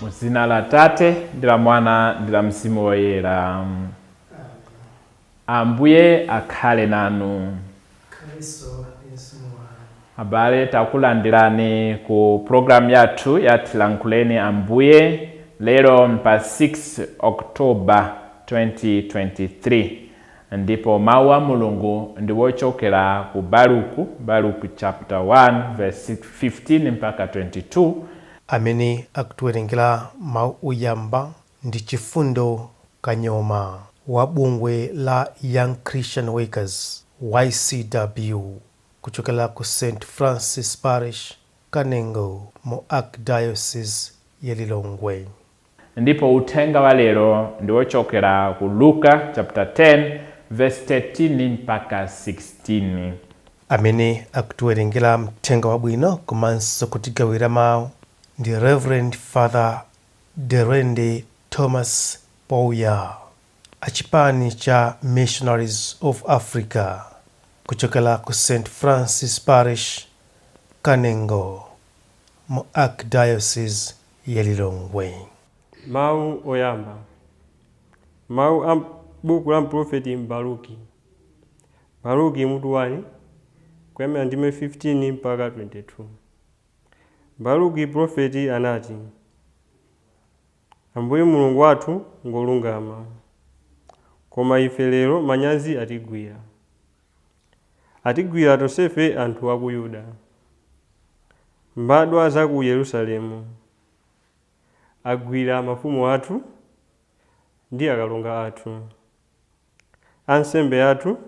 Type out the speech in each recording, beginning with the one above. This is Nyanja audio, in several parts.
mu dzina la tate ndi la mwana ndi la mzimu woyera ambuye akhale nanu. abale takulandirani ku programu yathu ya tilankhuleni ambuye lero pa 6 oktoba 2023 Ndipo Mawu a Mulungu ndi wochokera ku Baruku, Baruku chapter 1 verse 15-22. Amene akutiwerengera mawu oyamba ndi Chifundo Kanyoma wa bungwe la Young Christian Workers, YCW, kuchokera ku St. Francis Parish, Kanengo mu Archdiocese ya Lilongwe. Ndipo uthenga wa lero ndi wochokera ku Luka chapter 10 verse 13 mpaka 16. Amene akutiwerengera Mthenga Wabwino komanso kutigawira mau ndi Reverend Father Derende Thomas Pouya a chipani cha Missionaries of Africa kuchokera ku St Francis Parish, Kanengo mu Archdiocese ya Lilongwe. Mawu Oyamba. Mawu a m'buku la mpulofeti Baruki. Baruki mutu 1, kuyambira ndime 15 mpaka 22. Baruki pulofeti anati, Ambuye Mulungu wathu ngwolungama, koma ife lero manyazi atigwira. Atigwira tonsefe anthu a ku Yuda. Mbadwa za ku Yerusalemu agwira mafumu athu ndi akalonga athu, ansembe athu,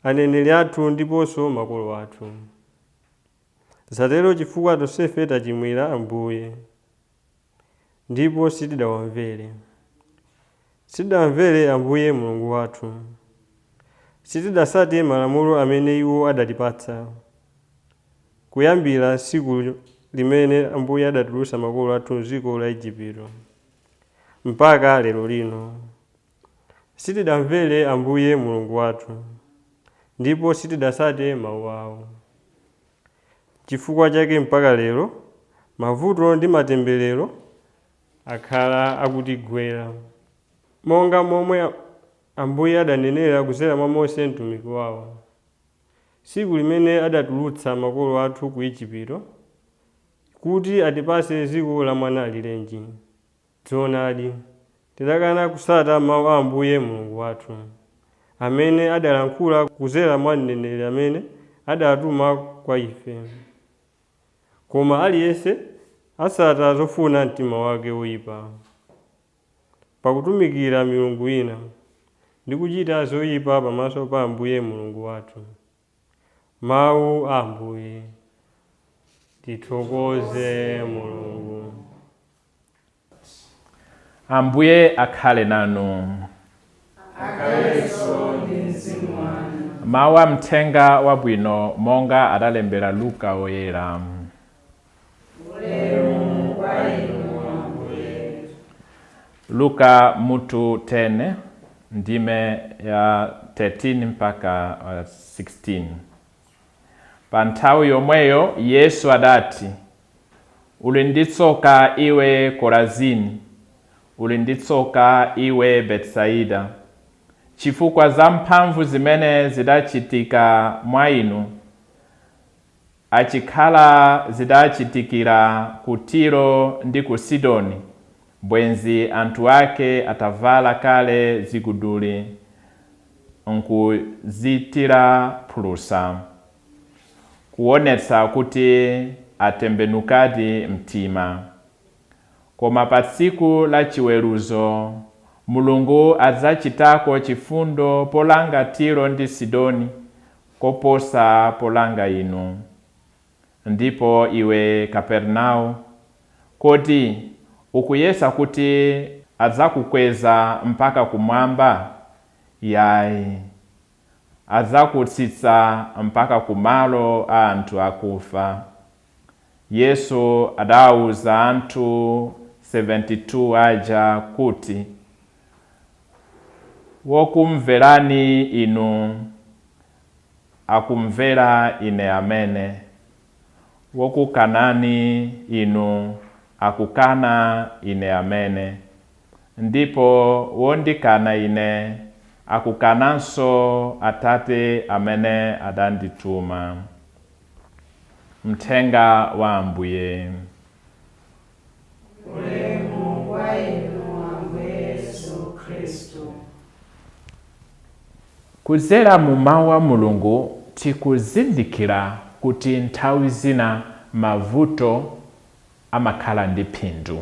aneneri athu ndiponso makolo athu. Zatero chifukwa tonsefe tachimwira Ambuye. ndipo sitidawamvere. Sitidamvere Ambuye Mulungu wathu. Sitidasate malamulo amene iwo adatipatsa, kuyambira tsiku limene Ambuye adatulutsa makolo athu m'dziko la Ejipito, mpaka lero lino. Sitidamvere Ambuye Mulungu wathu, ndipo sitidatsate mawu awo. N'chifukwa chake mpaka lero mavuto ndi matemberero akhala akutigwera. Monga momwe Ambuye adanenera kudzera mwa Mose mtumiki wawo, tsiku limene adatulutsa makolo athu ku Ejipito, kuti atipatse dziko la mwanaalirenji. Zoonadi, tidakana kusata mawu a Ambuye Mulungu wathu, amene adalankhula kudzera mwa mneneri amene adatuma kwa ife. Koma aliyense asata zofuna mtima wake woipa, pakutumikira milungu ina, ndi kuchita zoipa pamaso pa Ambuye Mulungu wathu. Mawu a Ambuye. Tithokoze Mulungu. Ambuye akhale nanu. Akhalenso ndi mzimu wanu. Mawu a Mthenga Wabwino monga adalembera Luka Woyera. Ulemu kwa inu Ambuye. Luka mutu 10 ndime ya 13 mpaka uh, 16. Pa nthawi yomweyo Yesu adati, uli ndi tsoka iwe Korazini, uli ndi tsoka iwe Betsaida, chifukwa za mphamvu zimene zidachitika mwa inu Achikhala zidachitikira ku Tiro ndi ku Sidoni, bwenzi anthu ake atavala kale ziguduli n'kuzithira phulusa, kuwonetsa kuti atembenukadi mtima. Koma pa tsiku la chiweruzo, Mulungu adzachitako chifundo polanga Tiro ndi Sidoni koposa polanga inu. Ndipo iwe, Kapernao, kodi ukuyesa kuti adzakukweza mpaka kumwamba? Yayi, adzakutsitsa mpaka ku malo a anthu akufa. Yesu adaawuza anthu 72 aja kuti, Wokumverani inu akumvera ine amene, wokukanani inu akukana ine amene, ndipo wondikana ine akukananso Atate amene adandituma. Mthenga wa Ambuye. Ulemu kwa Inu, Ambuye Yesu Khristu. Kuzera mu Mawu a Mulungu, tikuzindikira kuti nthawi zina mavuto amakhala ndi phindu.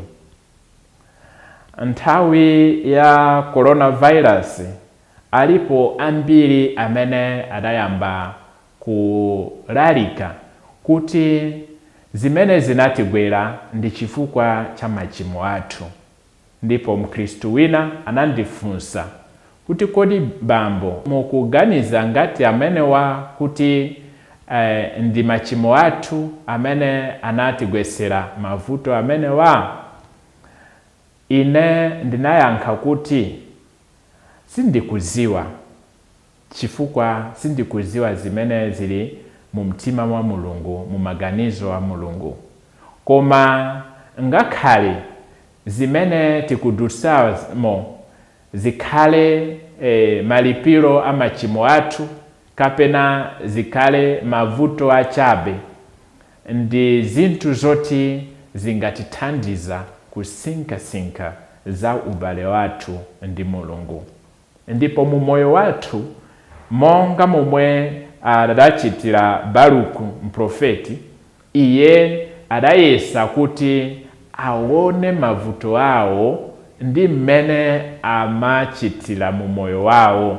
Nthawi ya coronavirus, alipo ambiri amene adayamba kulalika kuti zimene zinatigwera ndi chifukwa cha machimo athu. Ndipo mkhristu wina anandifunsa kuti kodi bambo mukuganiza ngati amenewa kuti ndi machimo athu amene anatigwetsera mavuto amenewa? Ine ndinayankha kuti sindikudziwa. chifukwa sindikudziwa zimene zili mumtima wa Mulungu, mu maganizo a Mulungu. Koma ngakhale zimene tikudutsamo zikhale malipiro a machimo athu, kapena zikhale mavuto achabe, ndi zinthu zoti zingatithandiza kusinkhasinkha za ubale wathu ndi Mulungu. Ndipo mu moyo wathu, monga momwe adachitira Baruku mprofeti, iye adayesa kuti awone mavuto awo ndi m'mene amachitira mu moyo wawo,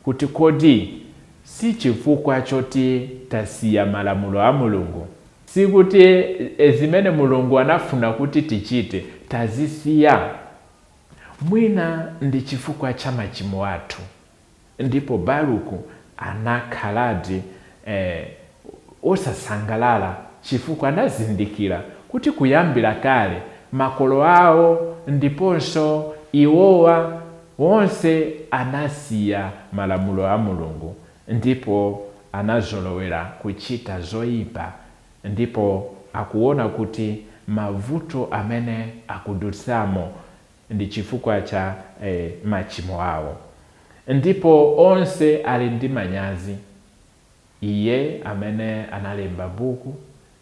kuti kodi sichifukwa choti tasiya malamulo a Mulungu? Sikuti zimene Mulungu anafuna kuti tichite tazisiya? Mwina ndi chifukwa cha machimo athu, ndipo Baruku anakhaladi wosasangalala chifukwa anazindikira kuti kuyambira kale makolo awo ndiponso iwowa, wonse anasiya malamulo a Mulungu ndipo anazolowera kuchita zoyipa Ndipo akuona kuti mavuto amene akudutsamo ndi chifukwa cha machimo awo. Ndipo onse ali ndi manyazi. Iye amene analemba Buku,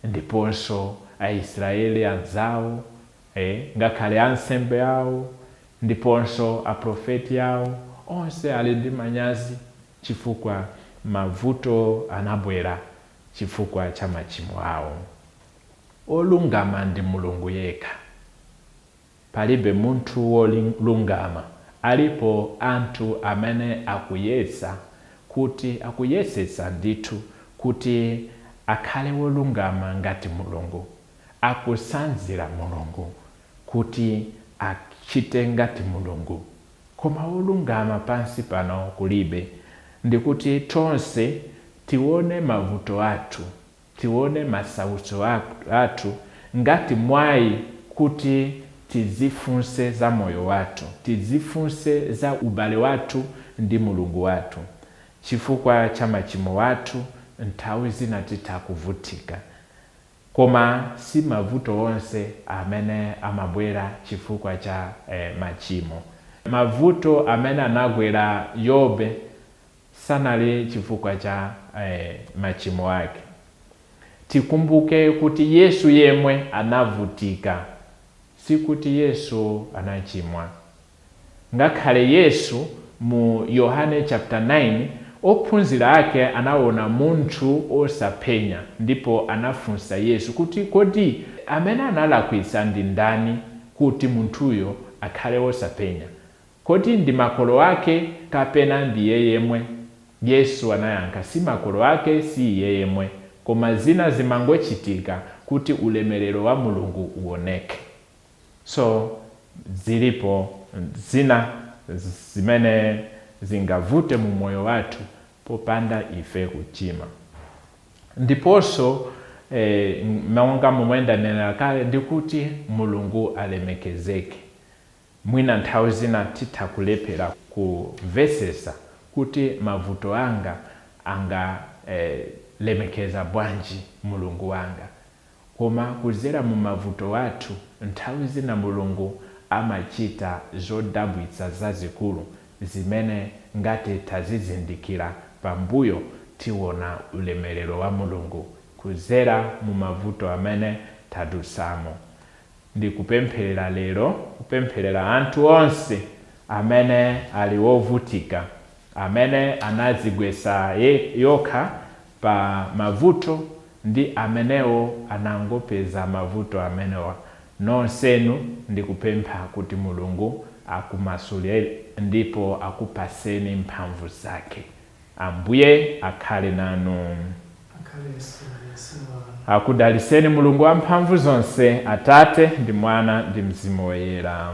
ndiponso Aisraeli anzawo, ngakhale ansembe awo, ndiponso Aprofeti awo, onse ali ndi manyazi chifukwa mavuto anabwera. chifukwa cha machimo awo. Olungama ndi Mulungu yekha. Palibe munthu wolungama alipo anthu amene akuyesa kuti akuyesetsa ndithu kuti akhale wolungama ngati Mulungu, akutsanzira Mulungu kuti achite ngati Mulungu. Koma wolungama pansi pano kulibe, ndikuti tonse tiwone mavuto athu, tiwone masautso athu ngati mwayi kuti tidzifunse za moyo wathu, tidzifunse za ubale wathu ndi Mulungu wathu. Chifukwa cha machimo athu, nthawi zina titha kuvutika. Koma si mavuto onse amene amabwera chifukwa cha machimo. Mavuto amene anagwera Yobe sanali chifukwa cha machimo ake. Tikumbuke kuti Yesu yemwe anavutika, sikuti Yesu anachimwa. Ngakhale Yesu mu Yohane chapter 9, ophunzila ake anaona munthu osapenya, ndipo anafunsa Yesu kuti, Kodi amene analakwitsa ndi ndani kuti munthuyo akhale osapenya? Kodi ndi makolo ake kapena ndi iye yemwe? Yesu anayankha, Si makolo ake, si iye yemwe. Koma zina zimangochitika kuti ulemelelo wa Mulungu uoneke. So zilipo zina zimene zingavute mu moyo wathu popanda ife kuchimwa. Ndiponso monga momwe ndanenera kale ndi kuti Mulungu alemekezeke, mwina nthawi zina titha kulephera kumvetsetsa kuti mavuto anga angalemekeza bwanji Mulungu wanga. Koma kudzera mu mavuto athu, nthawi zina Mulungu amachita zodabwitsa zazikulu zimene ngati tazizindikira pambuyo tiona ulemerero wa Mulungu kudzera mu mavuto amene tadutsamo. Ndikupempherera lero, kupempherera anthu onse amene ali ovutika, amene anadzigwetsa okha pa mavuto ndi amene anangopeza mavuto amenewa nonsenu ndikupempha kuti mulungu akumasuleni ndipo akupaseni mphamvu zake ambuye akhale nanu. Akudalitseni mulungu wamphamvu zonse atate ndi mwana ndi mzimu woyera.